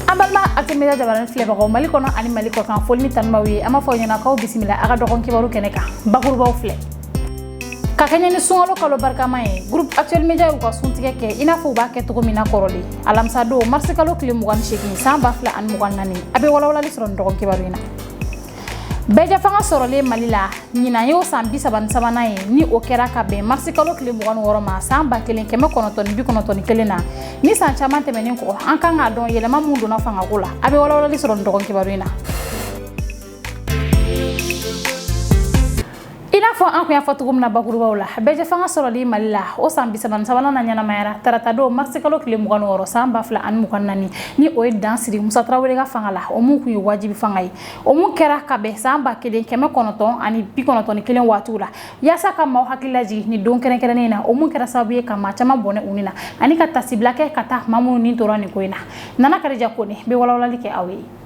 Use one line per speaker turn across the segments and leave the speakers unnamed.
an balima actuel media jabarani filɛbagaw mali kɔnɔ ani mali kɔkan foli ni tanu b'aw ye an b'a fɔ ɲɛna k'aw bisimila a ka dɔgɔn kibaru kɛnɛ kan bakurubaw filɛ ka kɛɲɛ ni sunkalo kalo barikama ye groupe actuel media y'u ka suntigɛ kɛ i n'a fɔ u b'a kɛ cogo min na kɔrɔlen alamisa don marisi kalo tile 28 san 2024 a bɛ walawalali sɔrɔ nin dɔgɔn kibaru in na bɛɛjɛ fanga sɔrɔlen mali la ɲinan y'o san bi saba ni sabanan ye ni o kɛra ka bɛn marisi kalo tile mugan ni wɔɔrɔ ma san ba kelen kɛmɛ kɔnɔntɔn bi kɔnɔntɔn ni kelen na ni san caman tɛmɛnin kɔ an kan k'a dɔn yɛlɛma minw donna fangako la a be walawalali sɔrɔ nin dɔgɔn kibaru in na i n'a fɔ an kun y'a fɔ cogo min na bakurubaw la bɛɛjɛ fanga sɔrɔli mali la o san bi saba ni sabanan naɲɛnamayara taratadon marisikalo tile mugan wɔɔrɔ san ba fila ani mugan nani ni o ye dan siri musa tarawele ka fanga la o mun kun ye wajibi fanga ye o mun kɛra ka bɛn san ba kelen kɛmɛ kɔnɔntɔn ani bi kɔnɔntɔn ni kelen waatiw la yaasa ka maaw hakili lajigin nin don kɛrɛnkɛrɛnnen na o mun kɛra sababu ye ka maa caman bɔnɛ u ni na ani ka taasibila kɛ ka taa maa minnu ni tora nin ko in na nana karija kone bɛ walawalali kɛ aw ye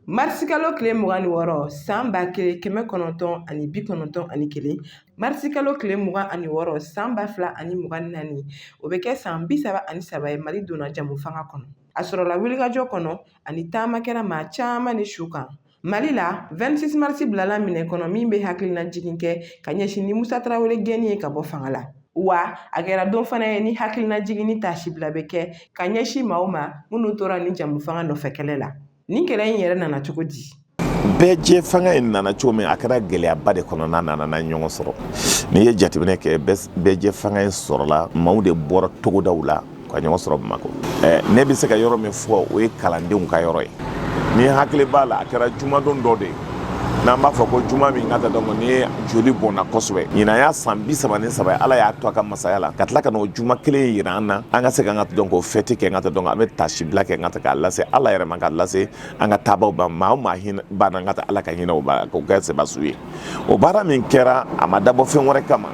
Marisikalo tile mugan ni wɔɔrɔ san ba kelen kɛmɛ kɔnɔntɔn ani bi kɔnɔntɔn ani kelen marisikalo tile mugan ani wɔɔrɔ san ba fila ani mugan ni naani o bɛ kɛ san bi saba ani saba ye mali donna jɛmu fanga kɔnɔ a sɔrɔla wulikajɔ kɔnɔ ani taama kɛra maa caman ni su kan mali la 26 marisi bilala minɛ kɔnɔ min bɛ hakilina jigin kɛ ka ɲɛsin ni musa tarawele gɛnni ye ka bɔ fanga la wa a kɛra don fana ye ni hakilina jigin ni taasibila bɛ kɛ ka ɲɛsin maaw ma minnu tora ni jɛmu fanga nɔfɛ kɛlɛ la nin kɛlɛ in yɛrɛ nana cogo di bɛɛjɛ
fanga in nana cogo min a kɛra gɛlɛyaba de kɔnɔ n'a nana n'a ɲɔgɔn sɔrɔ n'i ye jateminɛ kɛ bɛɛjɛ fanga in sɔrɔla maaw de bɔra togodaw la ka ɲɔgɔn sɔrɔ bamakɔ eh, ne bɛ se ka yɔrɔ min fɔ o ye kalandenw ka yɔrɔ ye ne hakili b'a la a kɛra jumadon dɔ de ye n'an b'a fɔ ko juma min ka ta dɔn ni ye joli bɔnna kosɛbɛ ɲinan y'a san bi saba ni saba ala y'a to a ka masaya la ka tila ka n'o juma kelen yira an na an ka se ka ka dɔn k'o fɛti kɛ ka ta dɔn an bɛ taasibila kɛ ka ta k'a lase ala yɛrɛ ma ka lase an ka taabaw ma maa o maa hinɛ banna ka taa ala ka hinɛ o k'o kɛ sebasiw ye o baara min kɛra a ma dabɔ fɛn wɛrɛ kama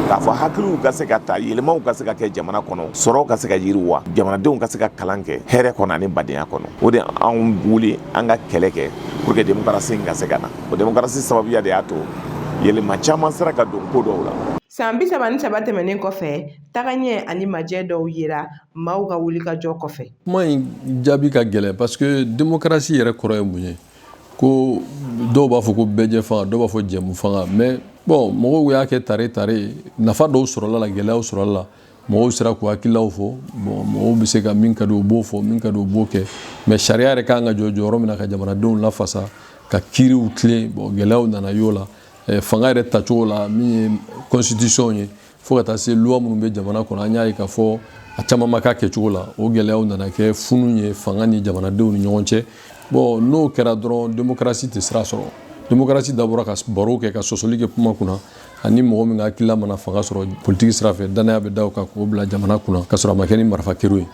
k'a fɔ hakiliw ka se ka ta yɛlɛmaw ka se ka kɛ jamana kɔnɔ sɔrɔw ka se ka yiriwa jamanadenw ka se ka kalan kɛ hɛrɛ kɔnɔ ani badenya kɔnɔ o de anw wuli an ka kɛlɛ kɛ pour que demokarasi in ka se ka na o demokarasi sababuya de y'a to yɛlɛma caman sera ka don ko dɔw la san bi saba ni
saba tɛmɛnen kɔfɛ tagaɲɛ ani majɛ dɔw yera maaw ka wulikajɔ kɔfɛ kuma in
jaabi ka gɛlɛn parce que demokarasi yɛrɛ kɔrɔ ye mun ye ko dɔw b'a fɔ ko bɛɛjɛ fanga dɔw b'a fɔ jɛmu fanga mais bon mɔgɔw y'a kɛ tare tare nafa dɔw sɔrɔla a la gɛlɛyaw sɔrɔla a la mɔgɔw sera k'u hakililaw fɔ bon mɔgɔw bɛ se ka min ka di u b'o fɔ min ka di u b'o kɛ mais sariya yɛrɛ kan ka jɔ jɔyɔrɔ min na ka jamanadenw lafasa ka kiiriw tilen bon gɛlɛyaw nana y'o la eh, fanga yɛrɛ tacogo la min ye constitution ye fo ka taa se loi minnu bɛ jamana kɔnɔ an y'a ye k'a fɔ a caman ma k'a kɛcogo la o gɛlɛyaw nana kɛ funu ye fanga ni jamanadenw ni ɲɔgɔn cɛ bon n'o kɛra dɔrɔn demokarasi tɛ sira sɔrɔ demokarasi dabɔra ka baro kɛ ka sɔsɔli kɛ kuma kunna ani mɔgɔ min ka hakilila mana fanga sɔrɔ politiki sira fɛ dannaya bɛ da o kan k'o bila jamana kunna ka sɔrɔ a ma kɛ ni marifa kero ye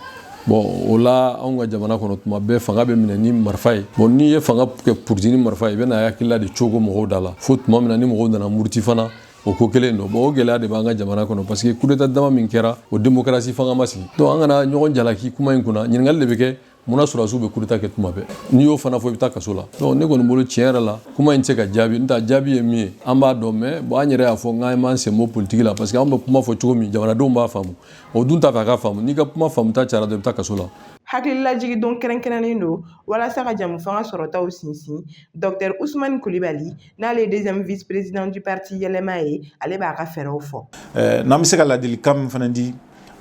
bon o la anw ka jamana kɔnɔ tuma bɛɛ fanga bɛ minɛ ni marifa ye bon n'i ye fanga kɛ politiki ni marifa ye i bɛna hakilila de cogo mɔgɔw da la fo tuma min na ni mɔgɔw nana muruti fana o ko kelen don bon o gɛlɛya de b'an ka jamana kɔnɔ parce que kudeta dama min kɛra o demokarasi fanga ma sigi donc an kana ɲɔgɔn jalaki kuma in kunna ɲininkali de bɛ kɛ mun na sɔrɔdasiw bɛ kudeta kɛ tuma bɛɛ n'i y'o fana fɔ i bɛ taa kaso la donc ne kɔni bolo tiɲɛ yɛrɛ la kuma in tɛ se ka jaabi n ta jaabi ye min ye an b'a dɔn mais bon an yɛrɛ y'a fɔ k'an m'an sen bɔ politiki la parce que an bɛ kuma fɔ cogo min jamanadenw b'a faamu o dun t'a fɛ a ka faamu n'i ka kuma faamuta cayara dɔrɔn i bɛ taa kaso la hakililajigin
don kɛrɛnkɛrɛnnen don walasa ka jɛmufanga sɔrɔtaw sinsin dɔktɛri usumani kulibali n'ale ye deuxième vice président du parti yɛlɛma ye ale b'a ka fɛɛrɛw fɔ eh, n'an bɛ se ka ladilikan
min fana di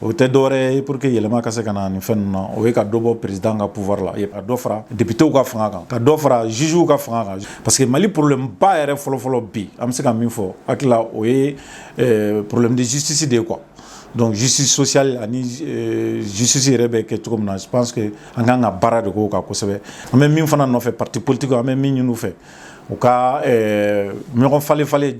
o tɛ dɔwɛrɛ ye pour que yɛlɛma ka se ka na nin fɛn ninnu na o ye ka dɔ bɔ président ka pouvoir la ka dɔ fara députéw ka fanga kan ka dɔ fara jugew ka fanga kan parce que mali problème ba yɛrɛ fɔlɔfɔlɔ bi an bɛ se ka min fɔ hakilila o ye eh, problème de justice de ye quoi donc justice sociale ani euh, justice yɛrɛ bɛ kɛ cogo min na je pense que an kan ka baara de k'o kan kosɛbɛ an bɛ min fana nɔfɛ parti politique an bɛ min ɲini u fɛ u ka ɲɔgɔn falen falen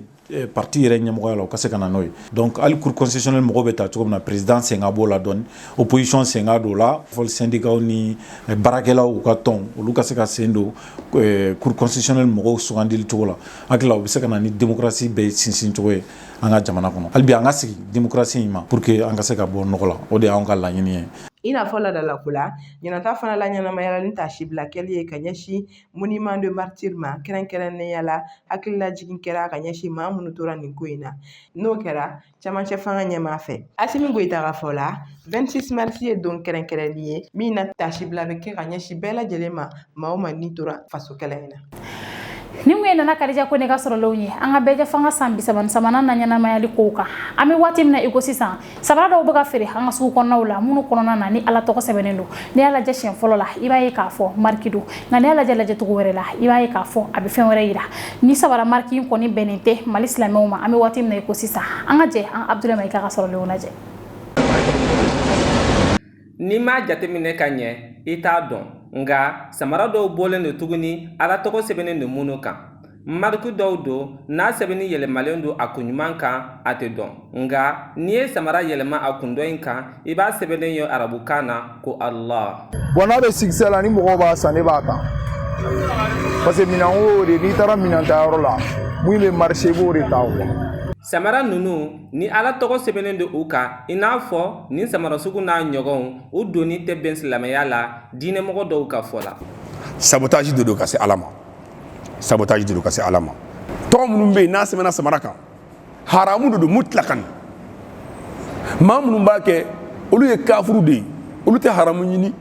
parti yɛrɛ ɲɛmɔgɔya la u ka se ka na n'o ye donc hali cour constitutionnelle mɔgɔw bɛ taa cogo min na président sen ka b'o la dɔɔni opposition sen ka don o la fo sendikaw ni baarakɛlaw ka tɔn olu ka se ka sen don cour constitutionnelle mɔgɔw sugandili cogo la ha u bɛ se ka na ni démocratie bɛ sinsin cogo ye an ka jamana kɔnɔ hali bi an ka sigi démocratie in ma pour que an ka se ka bɔ nɔgɔ la o de y'an ka laɲini ye
i n'a fɔ laadalako la ɲinan ta fana laɲɛnamayala ni taasibila kɛli ye ka ɲɛsin monument des martyrs ma kɛrɛnkɛrɛnnenya la hakilila jigin kɛra ka ɲɛsin maa minnu tora nin ko in na n'o kɛra camancɛ fanga ɲɛmaa fɛ asimi goyita ka fɔ la 26 mars ye don kɛrɛnkɛrɛnnen ye min na taasibila bɛ kɛ ka ɲɛsin bɛɛ lajɛlen ma maa o maa ni tora faso kɛlɛ in na ninnu
ye nana kadija kone ka sɔrɔlenw ye an ka bɛɛjɛfanga san bisaba ni sabanan laɲɛnamayali kow kan an bɛ waati min na i ko sisan sabara dɔw bɛ ka feere an ka sugu kɔnɔnaw la minnu kɔnɔna na ni ala tɔgɔ sɛbɛnnen don n'i y'a lajɛ siɲɛ fɔlɔ la i b'a ye k'a fɔ mariki don nka n'i y'a lajɛ lajɛ cogo wɛrɛ la i b'a ye k'a fɔ a bɛ fɛn wɛrɛ yira nin sabara mariki in kɔni bɛnnen tɛ mali silamɛw ma an bɛ waati min na i ko sisan an ka jɛ an ka abudulayi mayiga ka sɔrɔlenw
lajɛ n'i m'a jateminɛ ka ɲɛ i t'a dɔn nka samara dɔw bɔlen don tuguni ala tɔgɔ sɛbɛnnen don minnu kan Marque dɔw don n'a sɛbɛnni yɛlɛmalen don a kunɲuman kan a tɛ dɔn nka n'i ye samara yɛlɛma a kun dɔ in kan i b'a sɛbɛnnen ye arabukan na ko ala bon n'a bɛ
succès la ni mɔgɔw b'a san ne b'a ta parce que minan o de n'i taara minan ta yɔrɔ la min bɛ marché b'o de ta samara
ninnu ni ala tɔgɔ sɛbɛnnen don u kan i n'a fɔ nin samara sugu n'a ɲɔgɔnw u donni tɛ bɛn silamɛya la diinɛmɔgɔ dɔw ka fɔ la sabotage de
don ka se ala ma sabotage de don ka se ala ma tɔgɔ minnu bɛ yen n'a sɛbɛnna samara kan haramu de don mutilakan maa minnu b'a kɛ olu ye kafuru de ye olu tɛ haramu ɲini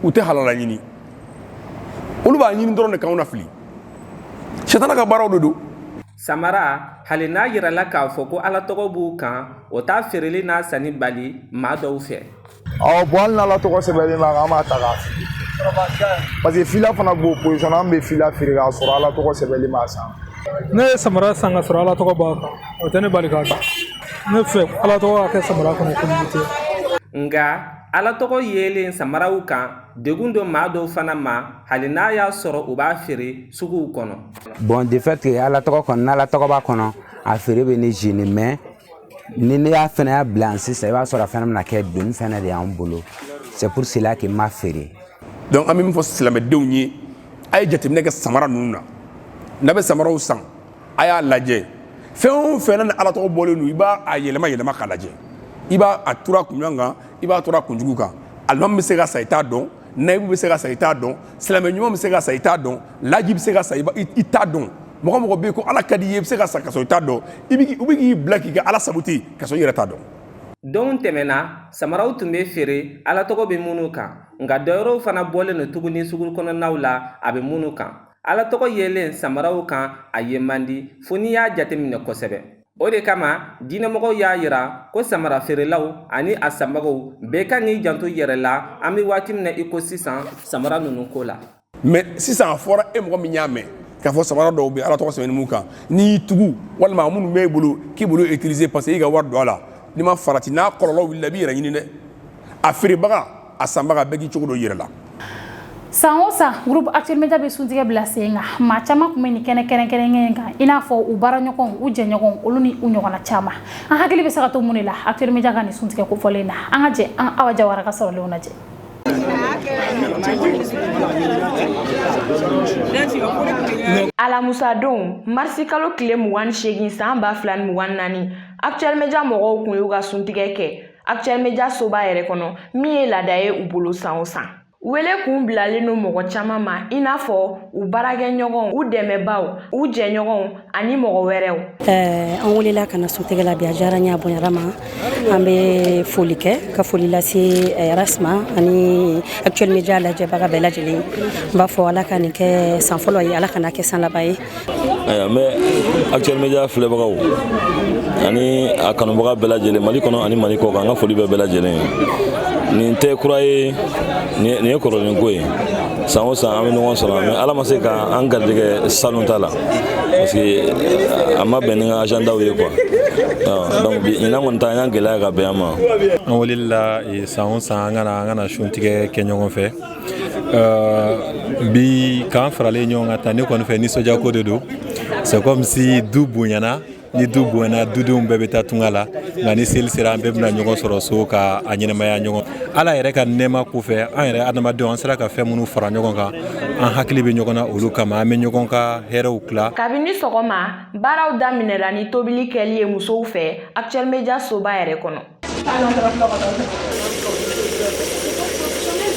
u tɛ halala ɲini olu b'a ɲini dɔrɔn de k'anw na fili sitana ka baaraw de don samara
hali n'a yirala k'a fɔ ko ala tɔgɔ b'u kan o t'a feereli n'a sanni bali maa dɔw fɛ ɔ bon hali
n'ala tɔgɔ sɛbɛnlen b'a kan an b'a ta k'a fili parce que fila fana b'o position na an bɛ fila feere k'a sɔrɔ ala tɔgɔ sɛbɛnlen b'a san ne ye samara
san ka sɔrɔ ala tɔgɔ b'a kan o tɛ ne bali k'a ta ne fɛ ala tɔgɔ ka kɛ samara kɔnɔ komite
nka ala tɔgɔ yelen samaraw kan degun don maa dɔw fana ma hali n'a y'a sɔrɔ u b'a feere suguw kɔnɔ bon de fait que
ala tɔgɔ kɔnɔ n'ala tɔgɔ b'a kɔnɔ a feere bɛ ne gêner mais ni ne y'a fana y'a bila yan sisan i b'a sɔrɔ a fana bɛna kɛ doni fana de y'an bolo c'est pour cela que n b'a feere donc an bɛ min fɔ
silamɛdenw ye a ye jateminɛ kɛ samara ninnu na n'a bɛ samaraw san a y'a lajɛ fɛn o fɛn na ni ala tɔgɔ bɔlen don i b'a a yɛlɛma yɛlɛma k'a lajɛ i b'a a turu a kunɲuman kan i b'a turu a kunjugu kan alimami bɛ se ka sa i t'a dɔn nayibu bɛ se ka sa i t'a dɔn silamɛ ɲuman bɛ se ka sa i t'a dɔn laji bɛ se ka sa i t'a dɔn mɔgɔ mɔgɔ bɛ yen ko ala ka di i ye i bɛ se ka sa ka sɔrɔ i t'a dɔn i bɛ u bɛ k'i bila k'i ka ala saboter ka sɔrɔ i yɛrɛ t'a dɔn donw tɛmɛna
samaraw tun bɛ feere ala tɔgɔ bɛ minnu kan nka dɔwɛrɛw fana bɔlen don tuguni sugu kɔnɔnaw la a bɛ minnu kan ala tɔgɔ yelen samaraw kan a ye man di fo n'i y'a jateminɛ kosɛbɛ o de kama diinɛmɔgɔw y'a yira ko samara feerelaw ani a sanbagaw bɛɛ ka kan k'i janto yɛrɛ la an bɛ waati min na i ko sisan samara ninnu ko la mais sisan a
fɔra e mɔgɔ min y'a mɛn k'a fɔ samara dɔw bɛ ala tɔgɔ sɛbɛnnen b'u kan n'i y'i tugu walima minnu b'e bolo k'i b'olu utiliser parce que i ka wari don a la n'i ma farati n'a kɔlɔlɔ wulila i b'i yɛrɛ ɲini dɛ a feerebaga a sanbaga bɛɛ k'i cogo don i yɛrɛ la
san o san groupe actuel media bɛ suntigɛ bila sen kan maa caman kunbɛn nin kɛnɛ kɛrɛnkɛrɛnnen kan i n'a fɔ u baaraɲɔgɔnw u jɛɲɔgɔnw olu ni u ɲɔgɔnna caman an hakili bɛ se ka to mun de la actuel media ka nin suntigɛ kofɔlen na an ka jɛ an awa jawara ka sɔrɔlenw
lajɛ alamusadon marisi kalo tile mugan ni seegin san ba fila ni mugan ni naani actuel media mɔgɔw kun y'u ka suntigɛ kɛ Actuel Media soba yɛrɛ kɔnɔ min ye laada ye u bolo san o san. Wele kun bilalen don mɔgɔ caman ma i n'a fɔ u baarakɛɲɔgɔnw u dɛmɛbaaw u jɛɲɔgɔnw ani mɔgɔ wɛrɛw eh, an welela
ka na suntigɛ la bi a diyara n ye a bonyara n ma an bɛ foli kɛ ka foli lase eh, Ras ma ani actuel media lajɛbaga bɛɛ lajɛlen n b'a fɔ ala ka nin kɛ san fɔlɔ ye ala kana kɛ san laban ye ayiwa n
bɛ actuel media filɛbagaw ani a kanubaga bɛɛ lajɛlen mali kɔnɔ ani mali kɔ kan an ka foli bɛ bɛɛ lajɛlen ye nin tɛ kura ye nin ye kɔrɔlen ko ye san o san an bɛ ɲɔgɔn sɔrɔ mais ala ma se ka an garijɛgɛ salon ta la parce que a ma bɛn ni n ka agendaw ye quoi donc bi ɲinan kɔni ta an y'an gɛlɛya ka bɛn an ma an welela
san o san an ka na an ka na suntigɛ kɛ ɲɔgɔn fɛ Euh, bi k'an faralen ɲɔgɔn kan tan ne kɔni fɛ nisɔndiyako de don c'est comme si du bonyana ni du bonyana dudenw bɛɛ bɛ taa tunga la nka ni seli sera an bɛɛ bɛna ɲɔgɔn sɔrɔ so ka a ɲɛnamaya ɲɔgɔn ala yɛrɛ ka nɛɛma kɔfɛ an yɛrɛ adamadenw an sera ka fɛn minnu fara ɲɔgɔn kan an hakili bɛ ɲɔgɔn na olu kama an bɛ ɲɔgɔn ka hɛrɛw tila kabini sɔgɔma
baaraw daminɛra ni tobili kɛli ye musow fɛ actuel media soba yɛrɛ kɔnɔ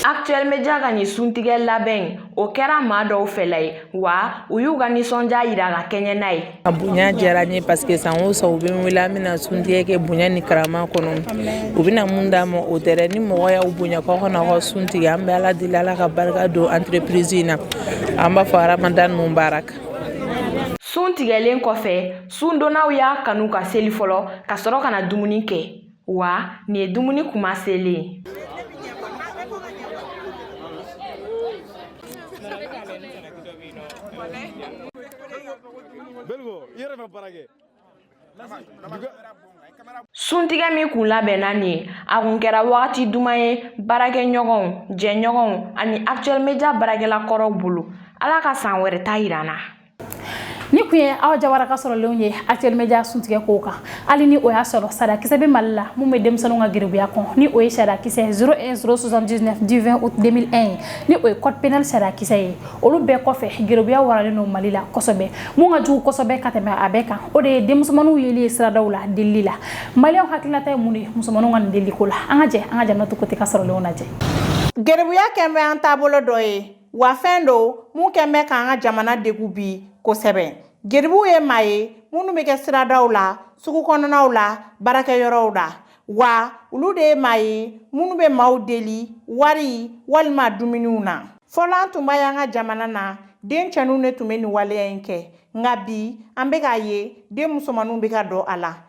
Actuel Media ka nin suntigɛ labɛn in, o kɛra maa dɔw fɛla ye, wa u y'u ka nisɔndiya yira ka kɛɲɛ n'a ye. A bonya diyara
n ye parce que san o san u bɛ n wele an bɛna suntigɛ kɛ bonya ni karama kɔnɔ, u bɛna mun d'an ma o tɛ dɛ, ni mɔgɔ y'aw bonya k'aw ka na aw ka sun tigɛ an bɛ Ala deli Ala ka barika don entreprise in na, an b'a fɔ Ramadan Mubarak.
Sun tigɛlen kɔfɛ Sundonnaw y'a kanu ka seli fɔlɔ ka sɔrɔ ka na dumuni kɛ wa nin ye dumuni kuma selen ye suntigɛ min kun labɛnna nin ye a kun kɛra wagati duman ye baarakɛɲɔgɔnw jɛɲɔgɔnw ani actuel media baarakɛla kɔrɔw bolo ala ka san wɛrɛ ta yir'an na
nin kun ye Awa Jawara ka sɔrɔlenw ye actuel media suntigɛ kow kan hali ni o y'a sɔrɔ sariyakisɛ bɛ mali la mun bɛ denmisɛnninw ka geribuya kɔn ni o ye sariyakisɛ 01079 du 20 août 2001 ye ni o ye code pénal sariyakisɛ ye olu bɛɛ kɔfɛ geribuya waralen don mali la kosɛbɛ mun ka jugu kosɛbɛ ka tɛmɛ a bɛɛ kan o de ye denmusomaninw yeli ye siradaw la delili la maliyɛnw hakilinata ye mun de ye musomaninw ka nin delili ko la an ka jɛ an ka Janatu Kote ka sɔrɔlenw lajɛ geribuya
kɛn bɛ an taabolo dɔ ye wa fɛn don mun kɛn bɛ k'an ka jamana degun bi kosɛbɛ geribuw ye maa ye minnu bɛ kɛ siradaw la sugu kɔnɔnaw la baarakɛyɔrɔw la wa olu de ye maa ye minnu bɛ maaw deli wari walima dumuniw na fɔlɔ an tun b'a y'an ka jamana na den cɛninw de tun bɛ nin waleya in kɛ nka bi an bɛ k'a ye den musomaninw bɛ ka don a la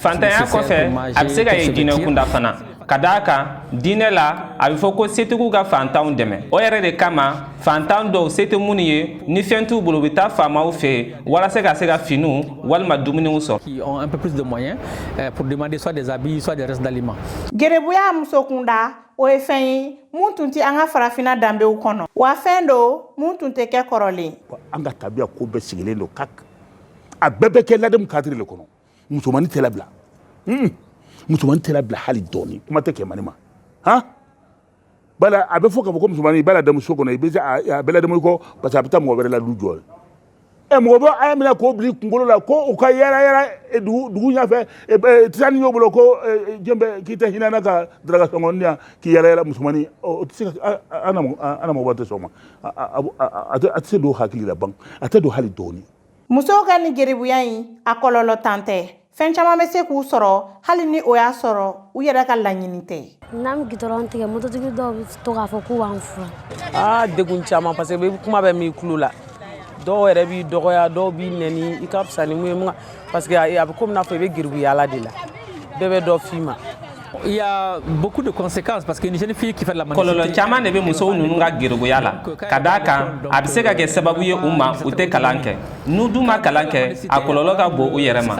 Fantanya kɔfɛ a bɛ se ka ye diinɛ kunda fana ka d'a kan diinɛ la a bɛ fɔ ko setigiw ka fantanw dɛmɛ o yɛrɛ de kama fantan dɔw se tɛ minnu ye ni fɛn t'u bolo u bɛ taa faamaw fɛ yen walasa ka se ka finiw walima dumuniw
sɔrɔ geribuya
muso kunda o ye fɛn ye mun tun tɛ an ka farafinna danbew kɔnɔ wa fɛn don mun tun tɛ kɛ kɔrɔlen an ka tabiya
ko bɛɛ sigilen don ka a bɛɛ bɛ kɛ ladamu kadiri le kɔnɔ musomanni tɛ labila hmm. musomanni tɛ labila hali dɔɔni kuma tɛ kɛmani ma han bala a bɛ fɔ k'a fɔ ko musomanni i b'a ladamu so kɔnɔ i bɛ a bɛ ladamu i kɔ parce que a bɛ taa mɔgɔ wɛrɛ la du jɔ ɛ mɔgɔ bɛ a y'a minɛ k'o bila i kunkolo la ko u ka yala yala e, dugu dugu ɲɛfɛ e, e, tasani y'o bolo ko jɔn bɛ k'i tɛ hinɛ n na ka daraka sɔngɔ di yan k'i yala yala musomanni o tɛ se ka an na mɔgɔ tɛ sɔn o ma a tɛ se don hakili la ban a tɛ don hali dɔɔni musow ka
nin geribuya in a kɔlɔlɔntan tɛ fɛn caman bɛ se k'u sɔrɔ hali ni o y'a sɔrɔ u yɛrɛ ka laɲini tɛ n'an bɛ gitɔrɔn tigɛ
mototigi dɔw bɛ to k'a fɔ k'u b'an furu aa degun caman
parce que kuma bɛ mɛn i tulo la dɔw yɛrɛ b'i dɔgɔya dɔw b'i nɛni i ka fisa ni mun ye parce que a bɛ komi n'a fɔ i bɛ geribuya la de la bɛɛ bɛ dɔ f'i ma
kɔlɔlɔ caman de bɛ
musow ninnu ka geribuya la ka d'a kan a bɛ se ka kɛ sababu ye u ma u tɛ kalan kɛ n'u dun ma kalan kɛ a kɔlɔlɔ ka bon u yɛrɛ ma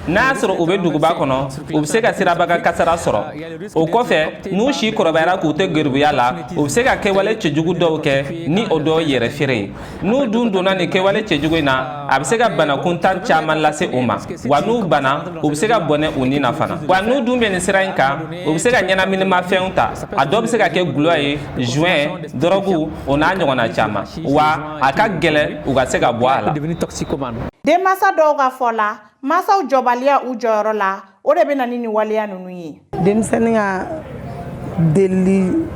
n'a y'a sɔrɔ u bɛ duguba kɔnɔ u bɛ se ka sirabakan kasara sɔrɔ o kɔfɛ n'u si kɔrɔbayara k'u to geribuya la u bɛ se ka kɛwale cɛjugu dɔw kɛ ni o dɔ ye yɛrɛfeere ye n'u dun donna nin kɛwale cɛjugu in na a bɛ se ka bana kuntan caman lase u ma wa n'u banana u bɛ se ka bɔnɛ u ni na fana wa n'u dun bɛ nin sira in kan u bɛ se ka ɲɛnaminimafɛnw ta a dɔ bɛ se ka kɛ gulɔ ye joint dɔrɔgu o n'a ɲɔgɔnna caman wa a ka gɛlɛn u ka se ka bɔ a la denmansa
dɔw ka fɔ la mansaw jɔbaliya u jɔyɔrɔ la o de bɛ na ni nin waleya ninnu ye denmisɛnnin ka
delili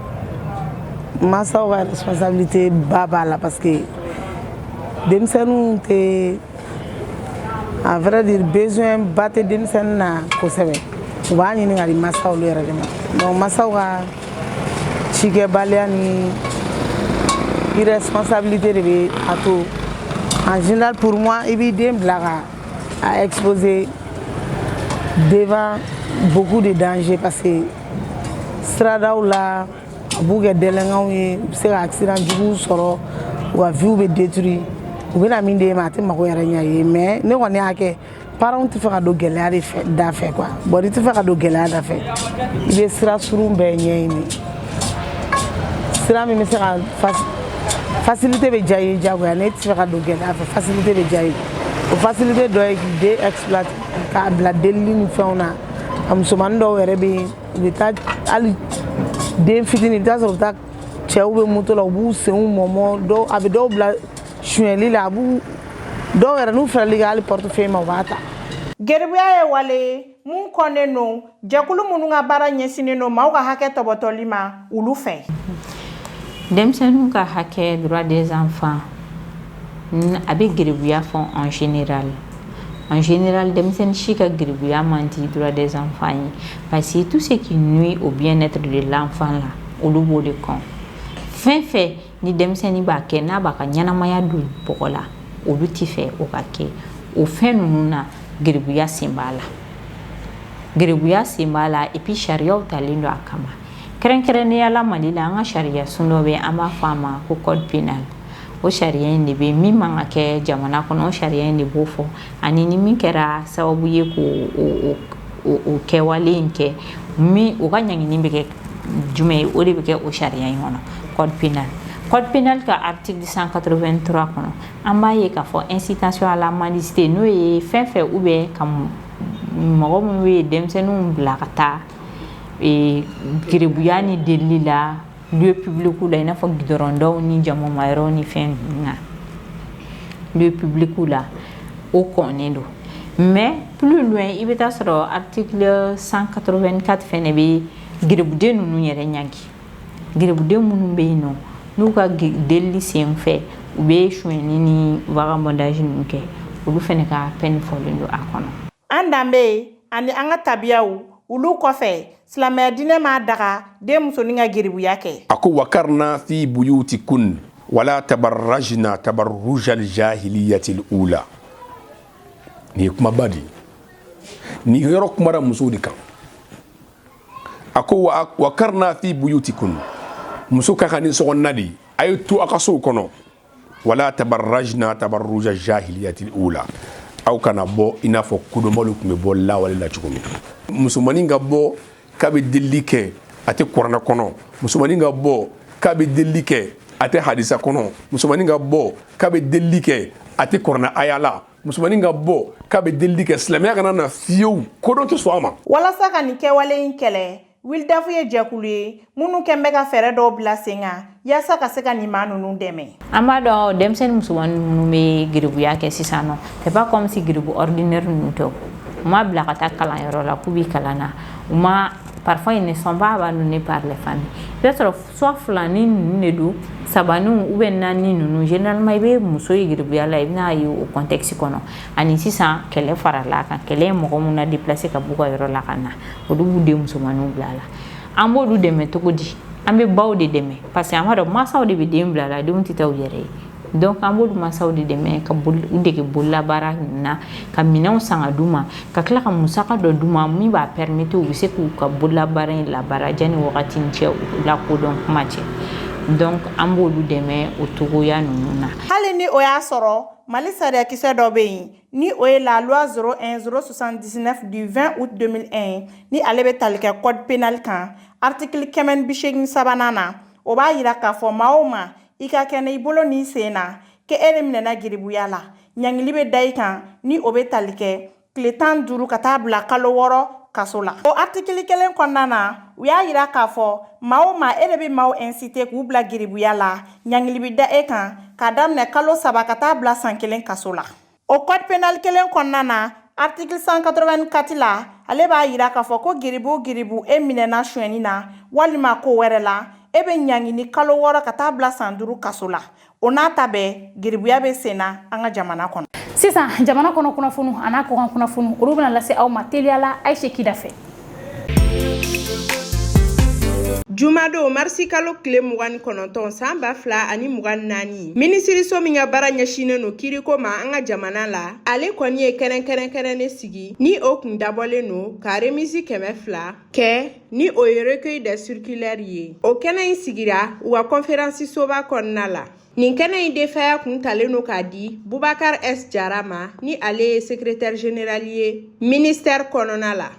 mansaw ka responsabilité ba b'a la parce que denmisɛnninw tɛ à vrai dire besoin ba tɛ denmisɛnnin na kosɛbɛ u b'a ɲini ka di mansaw yɛrɛ de ma donc mansaw ka cikɛbaliya ni irresponsabilité de bɛ a to en général pour moi i b'i den bila ka a exposer devant beaucoup de dangers parce que siradaw la a b'u kɛ délinquantw ye u bɛ se ka accident juguw sɔrɔ u ka vie bɛ détruit u bɛna min d'e ma a t'i mago yɛrɛ ɲɛ ye mais ne kɔni y'a kɛ paranw tɛ fɛ ka don gɛlɛya da fɛ quoi bon n'i tɛ fɛ ka don gɛlɛya da fɛ i bɛ sira surun bɛɛ ɲɛɲini sira min bɛ se ka fasilite bɛ diya i ye diyagoya n'e tɛ fɛ ka don gɛlɛya fɛ fasilite bɛ diya i ye o fasilite dɔ ye k'i den exploite k'a bila delili ni fɛnw na a musomanin dɔw yɛrɛ bɛ yen u bɛ taa hali den fitinin i bɛ taa sɔrɔ u bɛ taa cɛw bɛ moto la u b'u senw mɔmɔ dɔw a bɛ dɔw bila sonyɛli la a b'u dɔw yɛrɛ n'u fɛrɛla i ka pɔrtefeye ma u b'a ta geribuya
ye wale ye min kɔnnen don jɛkulu minnu ka baara ɲɛsinnen don maaw ka hakɛ tɔpɔtɔli ma olu fɛ
denmisɛnninw ka hakɛ droit des enfants a bɛ geribuya fɔ en général en général denmisɛnnin si ka geribuya man di droit des enfants ye parce que tout ce qui nuit au bien-être de l'enfant la olu b'o de kɔn fɛn fɛn ni denmisɛnnin b'a kɛ n'a b'a ka ɲɛnamaya don bɔgɔ la olu tɛ fɛ o ka kɛ o fɛn ninnu na geribuya sen b'a la geribuya sen b'a la et puis sariyaw talen don a kama kɛrɛnkɛrɛnnenya la mali la an ka sariya sun dɔ bɛ an b'a fɔ a ma ko code pénal o sariya in de bɛ min man ka kɛ jamana kɔnɔ sariya in de b'o fɔ ani ni min kɛra sababu ye ko o kɛwale in kɛ u ka ɲangili bɛ kɛ jumɛn ye o de bɛ kɛ o sariya in kɔnɔ code pénal code pénal ka article cent quatre-vingt-trois kɔnɔ an b'a ye k'a fɔ incitation à la mendicité n'o ye fɛn fɛ u bɛ ka mɔgɔ minnu ye denmisɛnninw bila ka taa geribuya ni delili la lieu public la i n'a fɔ gidɔrɔndaw ni jamamayɔrɔw ni fɛn na lieu public la o kɔnnen don mɛ p i bɛ taa sɔrɔ a ti san kato ka fɛn de bɛ gbuguden ninnu yɛrɛ ɲ gbuguden minnu bɛ yen nɔ n'u ka deli sen fɛ u bɛ sonyi ni wagada ninnu kɛ olu fana ka fɛn fɔlen don a kɔnɔ An danbe
ani an ka tabiyaw olu kɔfɛ silamɛya diinɛ m'a daga den musonin ka geribuya kɛ a ko wakarna fi
buyuti kun wala tabarrajna tabarrujal jahiliyatil ula nin ye kumaba de ye nin yɔrɔ kumara musow de kan a ko wakarna fi buyuti kun muso ka kan ni sokɔnɔna de ye a ye to a ka sow kɔnɔ wala tabarajna tabaruja jahiliyati ula aw kana bɔ i n'a fɔ kodɔnbaliw tun bɛ bɔ lawale la cogo min musomanin ka bɔ k'a bɛ delili kɛ a tɛ kuranɛ kɔnɔ musomanin ka bɔ k'a bɛ delili kɛ a tɛ hadisa kɔnɔ musomanin ka bɔ k'a bɛ delili kɛ a tɛ kuranɛ aya la musomanin ka bɔ k'a bɛ delili kɛ silamɛya kana na fiyewu kodɔn tɛ sɔn a ma walasa ka nin kɛwale
in kɛlɛ Wilidafu ye jɛkulu ye minnu kɛn bɛ ka fɛɛrɛ dɔw bila sen kan yaasa ka se ka nin maa ninnu dɛmɛ an b'a dɔn
denmisɛnnin musomannin minnu bɛ geribuya kɛ sisan nɔ c'est pas comme si geribu ordinaire ninnu tɛ u ma bila ka taa kalanyɔrɔ la k'u bɛ kalan na u ma parfois ils ne sont pas abandonnés par les familles i b'a sɔrɔ soit filanin ninnu de don sabaninw ou bien naani ninnu généralement i bɛ muso ye geribuya la i bɛn'a ye o contexte kɔnɔ ani sisan kɛlɛ farala a kan kɛlɛ ye mɔgɔ minnu na déplacer ka b'u ka yɔrɔ la ka na olu b'u den musomanninw bila a la an b'olu dɛmɛ cogo di an bɛ baw de dɛmɛ parce que an b'a dɔn mansaw de bɛ den bila a la denw tɛ taa u yɛrɛ ye donc an b'olu mansaw de dɛmɛ ka boli u dege bololabaara ninnu na ka minɛnw san ka d'u ma ka tila ka musaka dɔ d'u ma min b'a permettre u bɛ se k'u ka bololabaara in labaara janni wagati in cɛ u lakodɔn kuma cɛ donc an b'olu dɛmɛ o cogoya ninnu na hali ni o y'a
sɔrɔ mali sariyakisɛ dɔ bɛ yen Ni o ye la loi 01 079 du 20 aout 2001 ni ale bɛ tali kɛ code pénal kan article kɛmɛ ni bi seegin ni sabanan na o b'a jira k'a fɔ maa o maa i ka kɛnɛ i bolo n'i sen na k'e de minɛna giribuya la ɲangili bɛ da i kan ni o bɛ tali kɛ tile tan ni duuru ka taa bila kalo wɔɔrɔ kaso la o artikili kelen kɔnɔna na u y'a jira k'a fɔ maa o maa e de bɛ maaw inciter k'u bila giribuya la ɲangili bɛ da e kan k'a daminɛ kalo saba ka taa bila san kelen kaso la o code pénal kelen kɔnɔna na article 184 la ale b'a jira k'a fɔ ko giribu giribu e minɛna sonyɛni na walima ko wɛrɛ la e bɛ ɲangi ni kalo wɔɔrɔ ka taa bila san duuru kaso la o n'a ta bɛɛ giribuya bɛ sen na an ka jamana kɔnɔ sisan jamana kɔnɔ
kunnafoniw an'a kɔkan kunnafoniw olu bɛna lase aw ma teliya la Ayise Kida fɛ
jumadon marisi kalo tile mugan ni kɔnɔntɔn san ba fila ani mugan naani minisiriso min ka baara ɲɛsinnen no kiiriko ma an ka jamana la ale kɔni ye kɛnɛ kɛrɛnkɛrɛnnen sigi ni o kun dabɔlen no ka remisi kɛmɛ fila kɛ ni o ye recueil de circulaire ye o kɛnɛ in sigira u ka kɔnferansisoba kɔnɔna la Nin kɛnɛ in defaya kun talen don k'a di Bubakar S Jara ma ni ale ye secrétaire général ye ministère kɔnɔna la.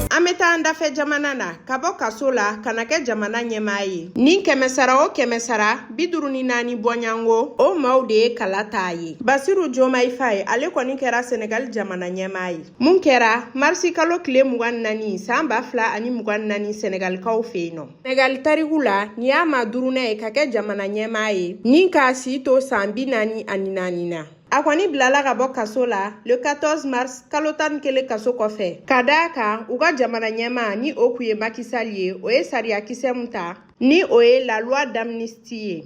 An bɛ taa an dafɛ jamana na ka bɔ kaso la ka na kɛ jamana ɲɛmaa ye ni kɛmɛsara o kɛmɛsara bi duuru ni naani bɔɲango o maaw de ye kala t'a ye basiru jomayi faye ale kɔni kɛra senegali jamana ɲɛmaa ye min kɛra marisi kalo tile mugan naani san ba fila ani mugan naani senegalikaw fɛ yen nɔ Senegali tariku la nin y'a maa duurunan ye ka kɛ jamana ɲɛmaa ye ni k'a si to san bi naani ani naani na a kɔni bilala ka bɔ kaso la le 14 mars kalo tan ni kelen kaso kɔfɛ ka d'a kan u ka jamana ɲɛmaa ni o kun ye Maki Sali ye o ye sariyakisɛ min ta ni o ye la loi d'amnistie ci ye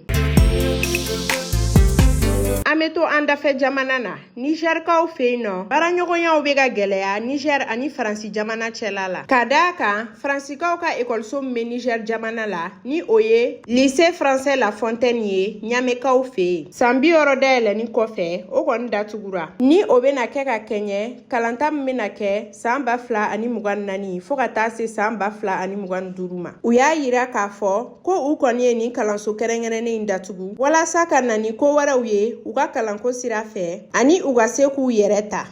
an be to an dafɛ jamana na nizɛrikaw fɛ yen nɔ baaraɲɔgɔnyaw be ka gwɛlɛya nizɛr ani faransi jamana cɛla la ka da a kan faransikaw ka ekɔliso min be nizɛr jamana la ni o ye lycée français la fontaine ye ɲamekaw fɛ yen saan bi wɔɔrɔ dayɛlɛni kɔfɛ o kɔni datugura ni o bena kɛ ka kɛɲɛ kalanta min bena kɛ saan ba fila ani mugan nani fɔɔ ka taa se saan ba fila ani mugan duru ma u y'a yira k'a fɔ ko u kɔni ye nin kalanso kɛrɛnkɛrɛnnen in datugu walasa ka na ni ko wɛrɛw ye u ka kalanko sira fɛ ani u ka se k'u yɛrɛ ta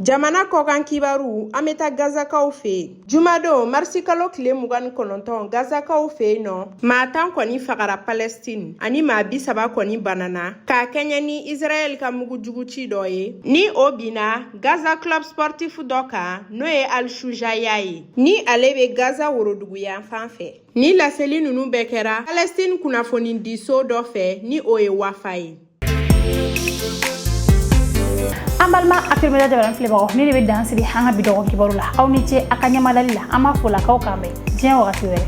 jamana kɔkan kibaru an bɛ taa gazakaw fɛ yen jumadon marisikalo tile mugan ni kɔnɔntɔn gazakaw fɛ yen nɔ maa tan kɔni fagara palɛstine ani maa bi saba kɔni banana ka kɛɲɛ ni israɛl ka mugujugu ci dɔ ye ni o binna gaza club sportif dɔ kan n'o ye al shujaya ye Ni ale bɛ Gaza woroduguyan fan fɛ. Ni laseli ninnu bɛɛ kɛra Palestine kunnafonidiso dɔ fɛ ni o ye Wafa ye.
An balima Actuel Media jabaranin filɛbagaw nin de bɛ dan sigi an ka bi dɔgɔ kibaru la aw ni ce a ka ɲɛmadali la an b'a fɔ la k'aw k'an bɛn diɲɛ wagati
wɛrɛ.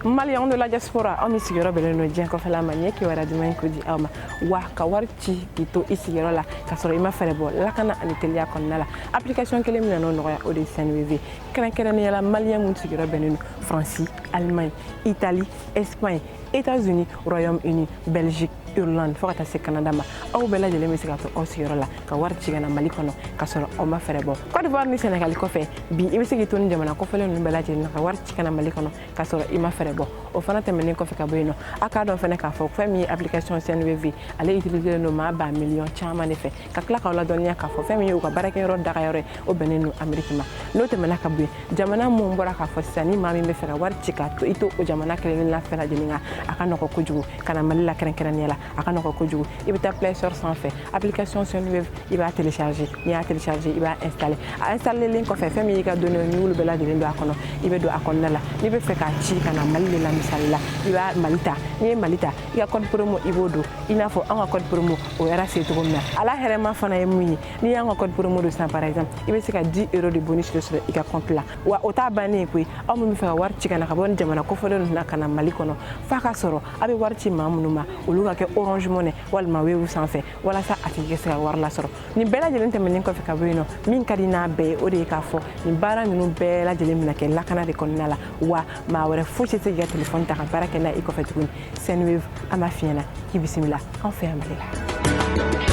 Maliyɛnw de la diaspora aw min sigiyɔrɔ bɛnnen don diɲɛ kɔfɛla ma ɲɛ kibaruya duman in ko di aw ma. wa ka wari ci k'i to i sigiyɔrɔ la k'a sɔrɔ i ma frais bɔ lakana ani teliya kɔnɔna la application kelen min nan'o nɔgɔya o de ye sendwave kɛrɛnkɛrɛnnenya la maliyɛn minnu sigiyɔrɔ bɛnnen don faransi alimaɲi itali espagne états-unis royaume uni belgique irlande fɔɔ ka taa se canada ma aw bɛɛ lajɛlen bɛ se ka to aw sigiyɔrɔ la ka wari ci ka na mali kɔnɔ k'a sɔrɔ aw ma frais bɔ cote d'ivoire ni sɛnɛgali kɔfɛ bi i bɛ se k'i to nin jamana kofɔlen ninnu bɛɛ lajɛlen na ka wari ci ka na mali kɔnɔ k'a sɔrɔ i ma frais bɔ o fana tɛmɛnen kɔfɛ ka bɔ yen nɔ a k'a dɔn fana k'a fɔ fɛn min ye application Sendwave ale utiliselen don maa ba miliyɔn caman de fɛ ka tila k'aw ladɔnniya k'a fɔ fɛn min ye u ka baarakɛyɔrɔ dagayɔrɔ ye o bɛnnen don Ameriki ma n'o tɛmɛna ka bɔ yen jamana minnu bɔra ka fɔ sisan ni maa min bɛ fɛ ka wari ci ka to i to o jamana kelen-kelenna fɛn lajɛlen kan a ka nɔgɔ kojugu ka na Mali la kɛrɛnkɛrɛnnenya la a ka nɔgɔ kojugu i bɛ taa play store sanfɛ application Sendwave i b'a télécharger n'i y'a télécharger i b'a installer a installerlen kɔfɛ fɛn min y'i ka données n'i y'olu bɛɛ lajɛlen don a kɔnɔ i bɛ don a kɔnɔna la n'i bɛ fɛ k'a ci ka na Mali de la misali la i bɛ Mali ta n'i ye Mali ta i ka code promo i b'o don i n'a fɔ an ka code promo o yɛrɛ se cogo min na a la hɛrɛma fana ye mun ye n'i y'an ka code promo don sisan par exemple i bɛ se ka 10 euros de bonus de sɔrɔ i ka compte la wa o t'a bannen ye koyi aw min bɛ fɛ ka wari ci ka na ka bɔ nin jamana kofɔlen ninnu na ka na Mali kɔnɔ f'a ka sɔrɔ a bɛ wari ci maa minnu ma olu ka kɛ orange money walima wave sanfɛ walasa a tigi ka se ka wari lasɔrɔ nin bɛɛ lajɛlen tɛmɛnen kɔfɛ ka bɔ yen nɔ min ka di n'a bɛɛ ye o de ye k'a fɔ nin baara ninnu bɛɛ lajɛlen bɛna kɛ lakana de kɔnɔna la wa maa wɛrɛ foyi tɛ se k'i ka telefɔni ta ka baara kɛ n'a i kɔfɛ tuguni sendwave an b'a f'i ɲɛ na k'i bisimila an fɛ yan mali la